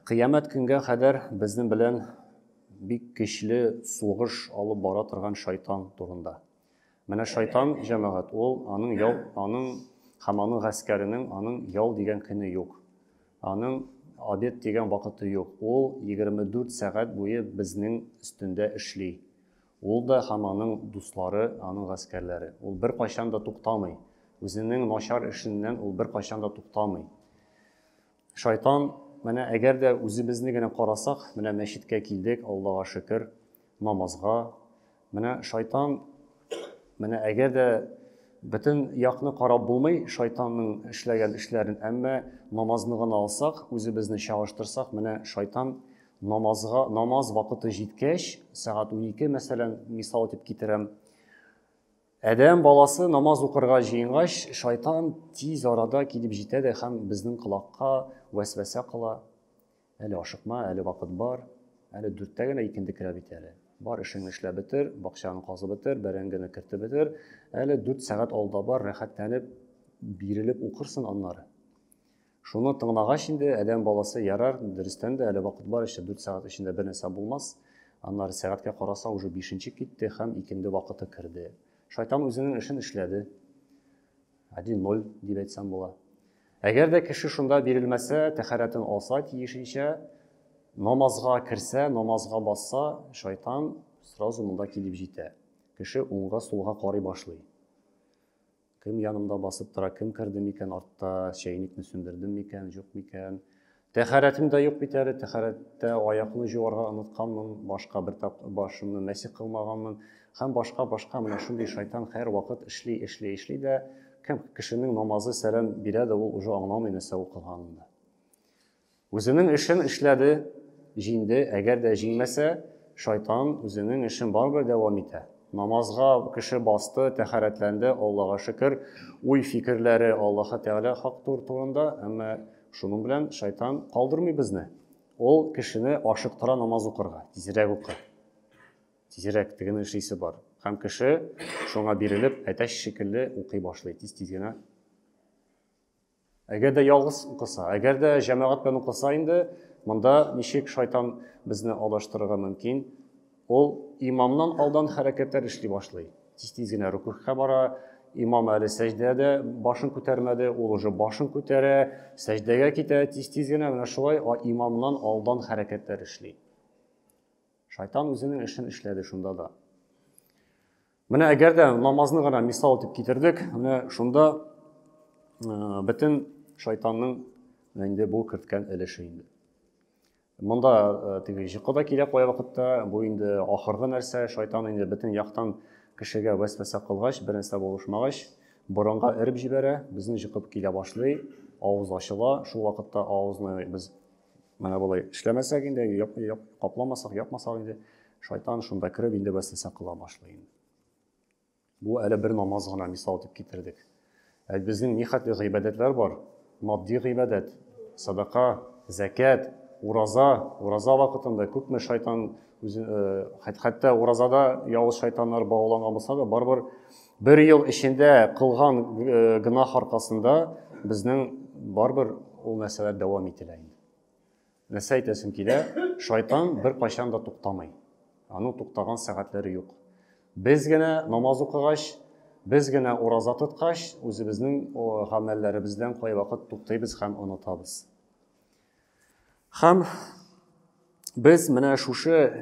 Кыямәт көнгә кадәр безнең белән бик көчле сугыш алып бара торган шайтан турында. Менә шайтан җәмәгать, ул аның ял, аның һәм аның гаскәренең аның ял дигән көне юк. Аның обед дигән вакыты юк. Ул 24 сәгать буе безнең өстендә эшли. Ул да һәм аның дуслары, аның гаскәрләре. Ул беркайчан да туктамый. Үзенең начар эшеннән ул беркайчан да туктамый. Шайтан, менә әгәр дә үзебезне генә карасак, менә мәчеткә килдек, Аллага шөкер, намазга. Менә шайтан, менә әгәр дә бөтен якны карап булмый шайтанның эшләгән эшләрен, әмма намазны гына алсак, үзебезне чагыштырсак, менә шайтан Намазга, намаз вакыты җиткәч, сәгать унике, мәсәлән, мисал итеп китерәм, Әдәм баласы намаз укырга җыенгач, шайтан тиз арада килеп җитә дә һәм безнең колакка вәсвәсә кыла. Әле ашыкма, әле вакыт бар, әле дүрттә генә икенде керә бит әле. Бар эшеңне эшләп бетер, бакчаны казып бетер, бәрәңгене кертеп бетер. Әле дүрт сәгать алда бар, рәхәтләнеп, бирелеп укырсың аннары. Шуны тыңлагач инде адәм баласы ярар, дөрестән дә әле вакыт бар еще 4 сәгать эчендә бер нәрсә булмас. Аннары сәгатькә караса уже 5 китте һәм икенде вакыты керде. Шайтан үзенең эшен эшләде. 1-0 дип әйтсәм була. Әгәр дә кеше шунда бирелмәсә, тәхәрәтен алса тиешенчә, намазга керсә, намазга басса, шайтан сразу монда килеп җитә. Кеше уңга, сулга карый башлый. Кем янымда басып тора, кем керде микән артта, чәйникне сүндердем микән, юк микән. Тәхәрәтем дә юк бит әле, тәхәрәттә аякны җуарга онытканмын, башка бер тап башымны мәсих кылмаганмын һәм башка башка менә шундый шайтан хәер вакыт эшли, эшли, эшли дә кем кешенең намазы сәлам бирә дә ул уже аңламый нәрсә укыганын да. Үзенең эшен эшләде, җиңде, әгәр дә җиңмәсә, шайтан үзенең эшен барыбер дәвам итә. Намазга кеше басты, тәхәрәтләнде, Аллага шөкер, уй-фикерләре Аллаһы Тәгалә хак тур турында, әмма шуның белән шайтан калдырмый безне. Ул кешене ашыктыра намаз укырга, тизрәк укы, тизрәк тегене эшлисе бар. Һәм кеше шуңа бирелеп, әтәч шикелле укый башлый, тиз-тиз генә Әгәр дә ялгыз укыса, әгәр дә җәмәгать белән укыса инде, монда ничек шайтан безне алдаштырырга мөмкин? Ул имамнан алдан хәрәкәтләр эшли башлый. Тиз-тиз генә рукухка бара, имам әле сәҗдәдә башын күтәрмәде, ул уже башын күтәрә, сәҗдәгә китә, тиз-тиз генә менә шулай имамнан алдан хәрәкәтләр эшли. Шайтан үзенең эшен эшләде шунда да. Менә әгәр дә намазны гына мисал итеп китердек, менә шунда э, бөтен шайтанның инде бу керткән өлеше инде. Монда э, теге җыкы да килә кая вакытта, бу инде ахыргы нәрсә, шайтан инде бөтен яктан кешегә вәсвәсә кылгач, бер нәрсә булышмагач, борынга эреп җибәрә, безне җыкып килә башлый, авыз ачыла, шул вакытта авызны без Менә болай эшләмәсәк инде, яп, яп, капламасак, япмасак инде, шайтан шунда кереп инде вәсвәсә кыла башлый инде. Бу әле бер намаз гына мисал дип китердек. Ә безнең нихәтле гыйбадәтләр бар? Матди гыйбадәт, садака, зәкят, ураза, ураза вакытында күпме шайтан үзе, э, хәтта уразада явыз шайтаннар бауланган булса да, барыбер Бер ел эчендә кылган э, гөнаһ аркасында безнең барбер ул нәрсәләр дәвам ителә инде. Нәрсә әйтәсем килә? Шайтан бер кайчан да туктамый. Аның туктаган сәгатьләре юк. Без генә намаз укыгач, без генә ураза тоткач, үзебезнең гамәлләребездән кайвакыт туктыйбыз һәм онытабыз. Һәм без менә шушы э,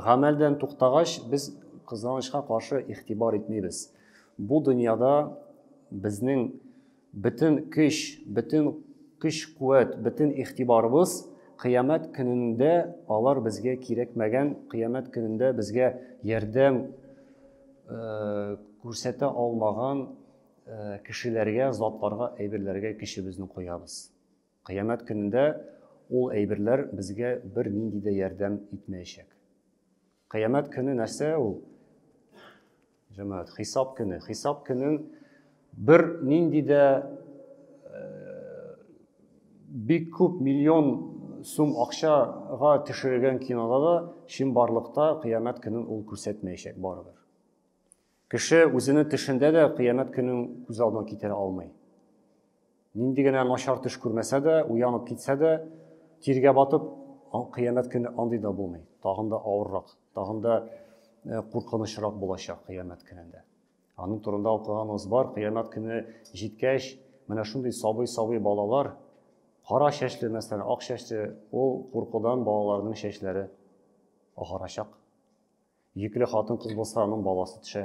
гамәлдән туктагач, без кызганычка каршы игътибар итмибез. Бу дөньяда безнең бөтен көч, бөтен көч-куәт, бөтен игътибарыбыз кыямәт көнендә алар безгә кирәкмәгән, кыямәт көнендә безгә ярдәм э, күрсәтә алмаган э, кешеләргә, затларга, әйберләргә көчебезне куябыз. Кыямәт көнендә ул әйберләр безгә бер нинди дә ярдәм итмәячәк. Кыямәт көне нәрсә ул? Җәмәгать, хисап көне. Хисап көнен бер нинди дә бик күп миллион сум акчага төшерелгән кинода да чынбарлыкта кыямәт көнен ул күрсәтмәячәк барыбер. Кеше үзенең төшендә дә кыямәт көнен күз алдына китерә алмый. Нинди генә начар төш күрмәсә дә, уянып китсә дә, тиргә батып, кыямәт көне андый да булмый. Тагын да авыррак, тагын да э, куркынычрак булачак кыямәт көнендә. Аның турында укыганыбыз бар, кыямәт көне җиткәч, менә шундый сабый-сабый балалар, кара чәчле, мәсәлән, ак чәчле, ул куркудан балаларның чәчләре агарачак. Йөкле хатын-кыз булса, аның баласы төшә.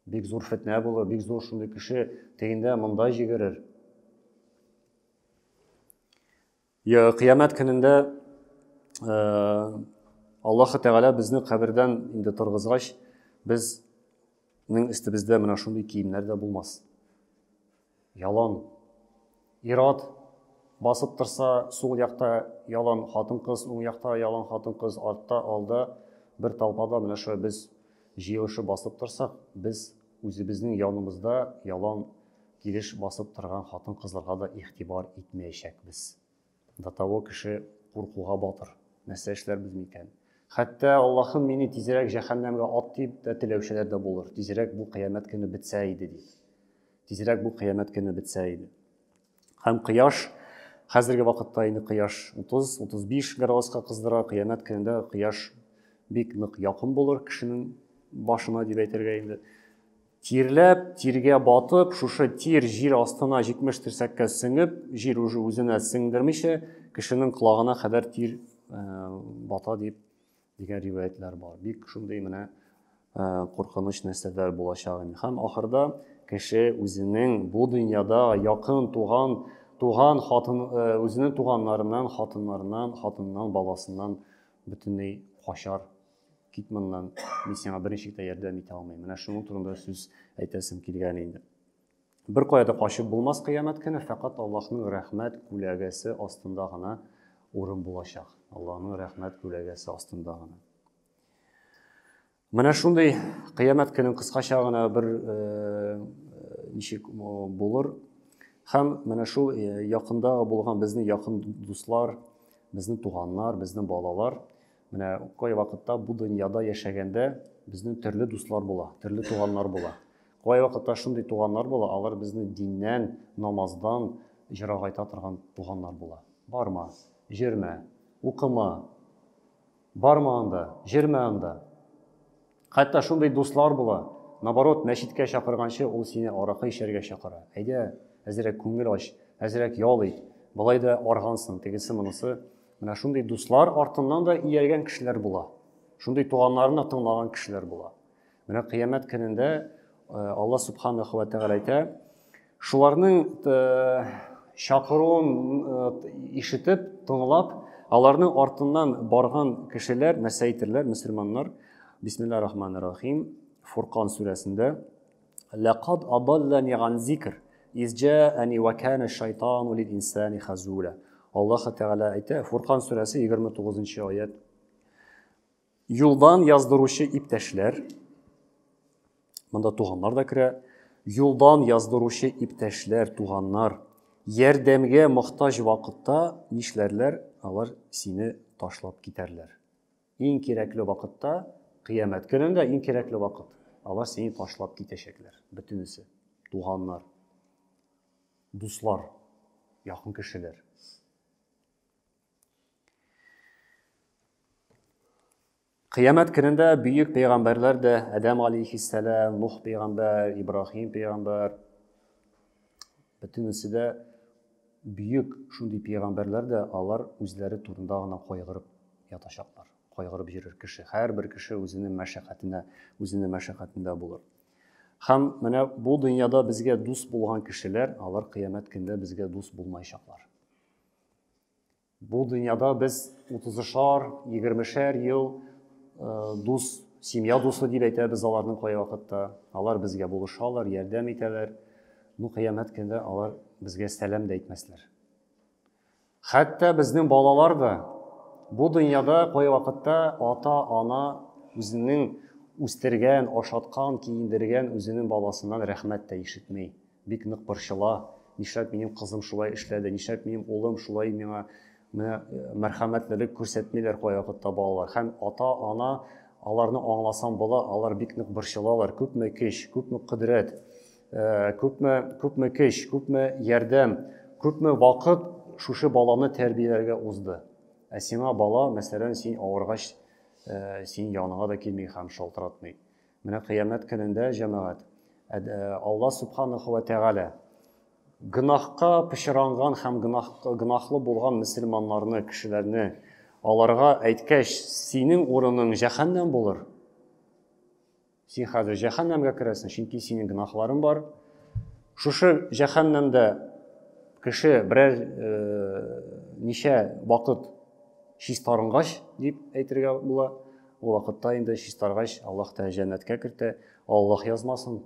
Бик зур фетнә булыр, бик зур шундый кеше тегендә монда җигерер. Я, кыямәт көнендә э, Аллаһ Тәгалә безне кабердән инде торгызгач, без Нің істі бізді мына шундый киімлер де болмас. Ялан. Ир-ат басып торса, сул якта ялан хатын-кыз, уң якта ялан хатын-кыз, артта, алда, бер толпада менә шулай без җыелышып басып торсак, без үзебезнең янымызда ялан килеш басып торган хатын-кызларга да игътибар итмәячәкбез. До того кеше куркуга батыр. Нәрсә эшләрбез микән? Хәтта Аллаһым мине тизрәк җәһәннәмгә ат дип тә теләүчеләр дә булыр. Тизрәк бу кыямәт көне бетсә иде дип. Тизрәк бу кыямәт көне бетсә иде. Һәм кояш хәзерге вакытта инде кояш 30-35 градуска кыздыра, кыямәт көнендә кояш бик нык якын булыр кешенең башына дип әйтергә инде. Тирләп, тиргә батып, шушы тир җир астына 70 терсәккә сеңеп, җир уже үзенә сеңдермичә, кешенең колагына кадәр тир э, бата дип дигән риваятлар бар. Бик шундый менә э, куркыныч нәрсәләр булачак инде. Һәм ахырда кеше үзенең бу дөньяда якын туган туган хатын э, үзенең туганнарыннан, хатыннарыннан, хатыннан, баласыннан бөтенләй качар Кит моннан, мин сиңа берничек тә ярдәм итә алмыйм. Менә шуның турында сүз әйтәсем килгән инде. Бер кая да качып булмас кыямәт көне, фәкать Аллаһның рәхмәт күләгәсе астында гына урын булачак. Аллаһның рәхмәт күләгәсе астында гына. Менә шундый кыямәт көнен кыскача гына бер э, ничек булыр. Һәм менә шул э, якында булган безнең якын дуслар, безнең туганнар, безнең балалар Менә кай вакытта бу дөньяда яшәгәндә безнең төрле дуслар була, төрле туганнар була. Кай вакытта шундый туганнар була, алар безне диннән, намаздан җырагайта торган туганнар була. Барма, җөрмә, укыма, барма анда, җөрмә анда. Хәтта шундый дуслар була, наоборот, мәчеткә чакырганчы ул сине аракы эчәргә чакыра. Әйдә, әзрәк күңел ач, әзрәк ял ит, болай да аргансың, тегесе монысы. Менә шундый дуслар артыннан да ияргән кешеләр була. Шундый туганнарны тыңлаган кешеләр була. Менә кыямәт көнендә э, Алла субханаху ва тәгалә әйтә, Шуларның чакыруын ишетеп, тыңлап, аларның артыннан барган кешеләр нәрсә әйтерләр, мөселманнар? Бисмиллаһир рахманир рахим. Фуркан сүрәсендә Ләкад адаллани ган зикр изҗаани ва кана шайтану лил инсани хазула. Аллаһ Тәгалә әйтә, Фуркан сүрәсе 29 нчы аят. Юлдан яздыручы иптәшләр. Монда туганнар да керә. Юлдан яздыручы иптәшләр, туганнар. Ярдәмгә мохтаҗ вакытта нишләрләр? Алар сине ташлап китәрләр. Иң кирәкле вакытта, кыямәт көнендә иң кирәкле вакыт. Алар сине ташлап китәчәкләр. Бөтенесе. Туганнар. Дуслар. Якын кешеләр. Кыямәт көнендә бөек пәйгамбәрләр дә Адәм алейхиссәлам, Нух пәйгамбәр, Ибраһим пәйгамбәр бөтенесе дә бөек шундый пәйгамбәрләр дә алар үзләре турында гына кайгырып ятачаклар. Кайгырып йөрер кеше. Һәрбер кеше үзенең мәшәкатенә, үзенең мәшәкатендә булыр. Һәм менә бу дөньяда безгә дус булган кешеләр, алар кыямәт көндә безгә дус булмаячаклар. Бу дөньяда без утызышар, егермешәр ел дус, семья дусы дип әйтәбез аларның кая вакытта. Алар безгә булышалар, ярдәм итәләр. Ну, кыямәт көндә алар безгә сәлам дә әйтмәсләр. Хәтта безнең балалар да бу дөньяда кая вакытта ата-ана үзенең үстергән, ашаткан, киендергән үзенең баласыннан рәхмәт тә ишетми. Бик нык борчыла, нишләп минем кызым шулай эшләде, нишләп минем улым шулай миңа менә мәрхәмәтлелек күрсәтмиләр кайвакытта балалар. Һәм ата-ана аларны аңласам була, алар бик нык борчылалар, күпме көч, күпме кодрәт, күпме, күпме көч, күпме ярдәм, күпме вакыт шушы баланы тәрбияләргә узды. Ә сиңа бала, мәсәлән, син авыргач, син яныңа да килми һәм шалтыратмый. Менә кыямәт көнендә, җәмәгать, Алла Субханаху ва Тәгалә гөнаһка пычранган һәм гөнаһ, гөнаһлы булган мөселманнарны, кешеләрне аларга әйткәч, синең урының җәһәннәм булыр. Син хәзер җәһәннәмгә керәсең, чөнки синең гөнаһларың бар. Шушы җәһәннәмдә кеше берәр э, ничә вакыт чистарынгач дип әйтергә була. Ул вакытта инде чистаргач, Аллаһ Тәгалә җәннәткә кертә. Аллаһ язмасын,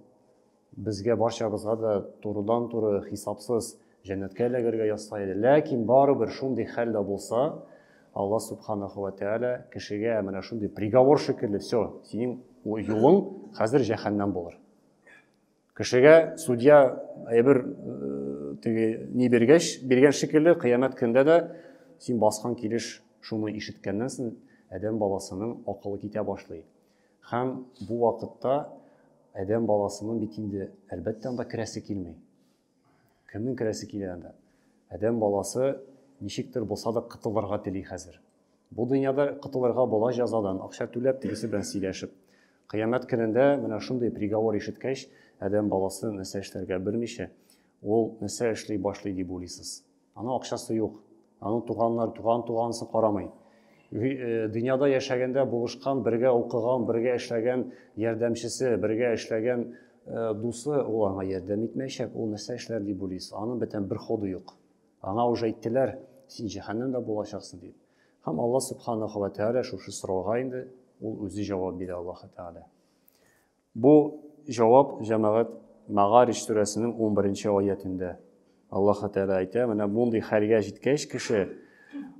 безгә барчабызга да турыдан-туры хисапсыз җәннәткә эләгергә язса иде. Ләкин барыбер шундый хәл дә булса, Аллаһ Субханаху ва Тәгалә кешегә менә шундый приговор шикелле, все, синең юлың хәзер җәһәннәм булыр. Кешегә судья әйбер теге ни биргәч, биргән шикелле, кыямәт көндә дә син баскан килеш шуны ишеткәннән соң адәм баласының акылы китә башлый. Һәм бу вакытта адәм баласының бит инде әлбәттә анда керәсе килми. Кемнең керәсе килә анда? Адәм баласы ничектер булса да котылырга тели хәзер. Бу дөньяда котылырга була җәзадан, акча түләп, тегесе белән сөйләшеп. Кыямәт көнендә менә шундый приговор ишеткәч, адәм баласы нәрсә эшләргә белмичә, ул нәрсә эшли башлый дип уйлыйсыз? Аның акчасы юк. Аның туганнар, туган тугансын карамый. Э, дөньяда яшәгәндә булышкан, бергә укыган, бергә эшләгән ярдәмчесе, бергә эшләгән э, дусы ул аңа ярдәм итмәячәк. Ул нәрсә эшләр дип уйлыйсыз? Аның бөтен бер ходы юк. Аңа уже әйттеләр, син җәһәннәмдә булачаксың дип. Һәм Алла субханаһу ва тәгалә шушы сорауга инде ул үзе җавап бирә Аллаһу тәгалә. Бу җавап Җәмәгать Мәгарич сүрәсенең унберенче аятендә. Аллаһы Тәгалә әйтә, менә мондый хәлгә җиткәч кеше,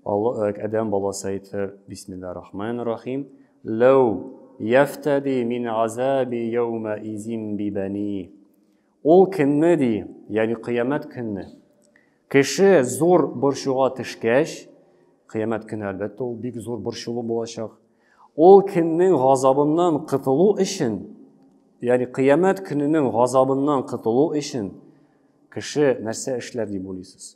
адәм баласы әйтер, бисмиллаһир рахманир рахим, Ләү яфтәди мин азаби яумәизин би бәни. Ул көнне, ди, ягъни кыямәт көнне, кеше зур борчуга төшкәч, кыямәт көне, әлбәттә, ул бик зур борчулы булачак. Ул көннең газабыннан котылу өчен, ягъни кыямәт көненең газабыннан котылу өчен кеше нәрсә эшләр дип уйлыйсыз?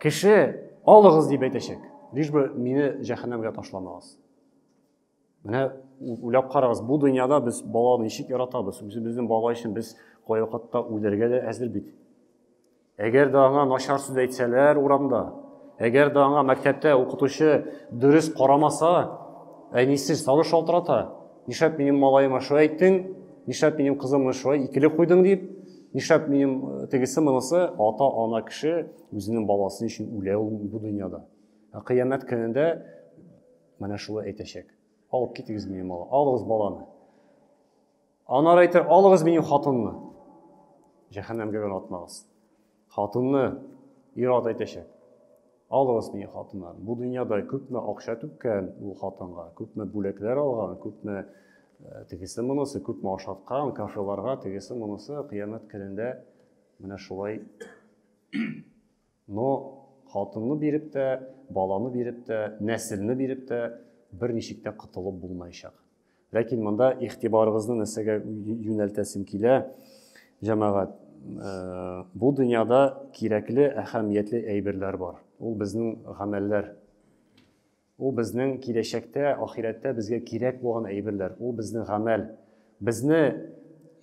Кеше алыгыз дип әйтәчәк. Лишь бы мине җәһәннәмгә ташламагыз. Менә уйлап карагыз, бу дөньяда без баланы ничек яратабыз? Үзебезнең бала өчен без кайвакытта үләргә дә әзер бит. Әгәр дә аңа начар сүз әйтсәләр урамда, әгәр дә аңа мәктәптә укытучы дөрес карамаса, әнисе сагыш шалтырата, Нишләп минем малаема шулай әйттең? Нишләп минем кызымны шулай икеле куйдың дип? Нишләп минем э, тегесе монысы ата ана кеше үзенең баласы өчен үлә ул бу дөньяда. Ә кыямәт көнендә менә шулай әйтәчәк. Алып китегез минем бала, алыгыз баланы. Анар әйтер, алыгыз минем хатынны. Җәһәннәмгә генә атмагыз. Хатынны ир-ат әйтәчәк. Алыгыз мине хатыннар. Бу дөньяда күпме акча түккән ул хатынга, күпме бүләкләр алган, күпме тегесе монысы, күпме ашаткан, кафеларга тегесе монысы, кыямәт көнендә менә шулай но хатынны биреп тә баланы биреп тә нәселне биреп тә бер ничек тә котылып булмаячак Ләкин монда игътибарыгызны нәрсәгә юнәлтәсем килә, җәмәгать. Э, бу дөньяда кирәкле, әһәмиятле әйберләр бар. Ул безнең гамәлләр. Ул безнең киләчәктә, ахирәттә безгә кирәк булган әйберләр. Ул безнең гамәл. Безне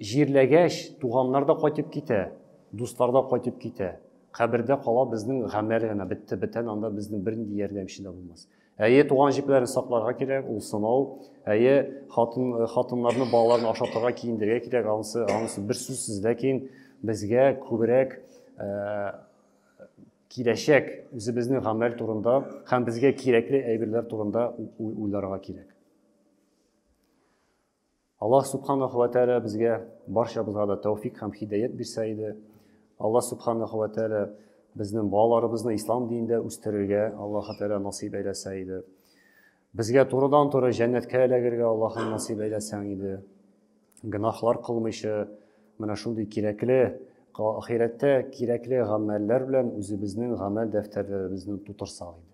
җирләгәч, туганнар да кайтып китә, дуслар да кайтып китә. Кабердә кала безнең гамәл генә бетте, бетән анда безнең бернинди ярдәмче дә булмас. Әйе, туган җепләрне сакларга кирәк, ул сынау. Әйе, хатын, хатыннарны, балаларны ашатырга, киендерергә кирәк, анысы, анысы бер сүзсез. Ләкин безгә күбрәк ә, киләчәк үзебезнең гамәл турында һәм безгә кирәкле әйберләр турында уйларга кирәк. Аллаһ Субханаху ва Тәәлә безгә барчабызга да тәүфик һәм хидәят бирсә иде. Аллаһ Субханаху ва Тәәлә безнең балаларыбызны ислам динендә үстерергә Аллаһ Тәәлә насыйп әйләсә иде. Безгә турыдан туры җәннәткә эләгергә Аллаһ насыйп әйләсәң иде. Гынахлар кылмыйча менә шундый кирәкле ахирәттә кирәкле гамәлләр белән үзебезнең гамәл дәфтәрләребезне тутырсак иде.